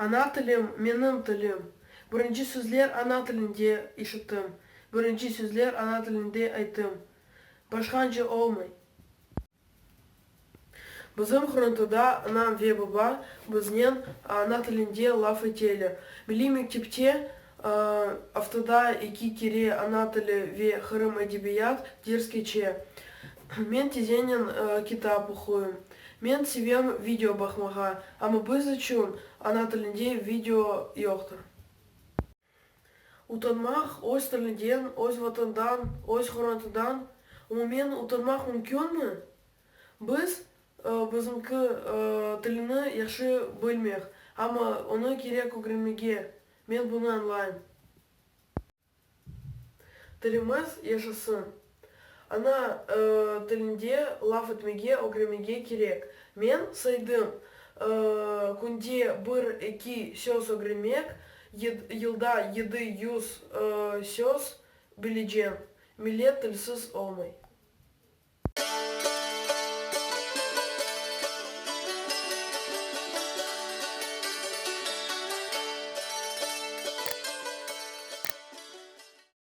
Ana tilim, menim tilim. Birinci sözler ana tilinde işittim, birinci sözler ana tilinde ayttım. Başqanca olmay. Bizim Hrontoda anam ve babam biznen ana tilinde laf eteler. Milliy mektepte aftada eki kere ana tili ve Qırım edebiyat ders keçe. Men tizenen kitap oquyım. Men sevem video baqmağa, amma biz içün ana tilinde video yoqtır. Utanmaq, öz tilinden, öz Vatandan, öz hürriyetinden, umumen, utanmaq mümkünmi? Biz, bizimki tilini yahşı bilmek, amma onı kerek ögrenmege, men bunı añlayım. Tilimiz yaşasın! Ana tilinde laf etmege ögremege kerek. Men saydım, künde bir-eki söz ögrenmek, yılda yedi yüz söz bileceğim. Millet tilsiz olmay.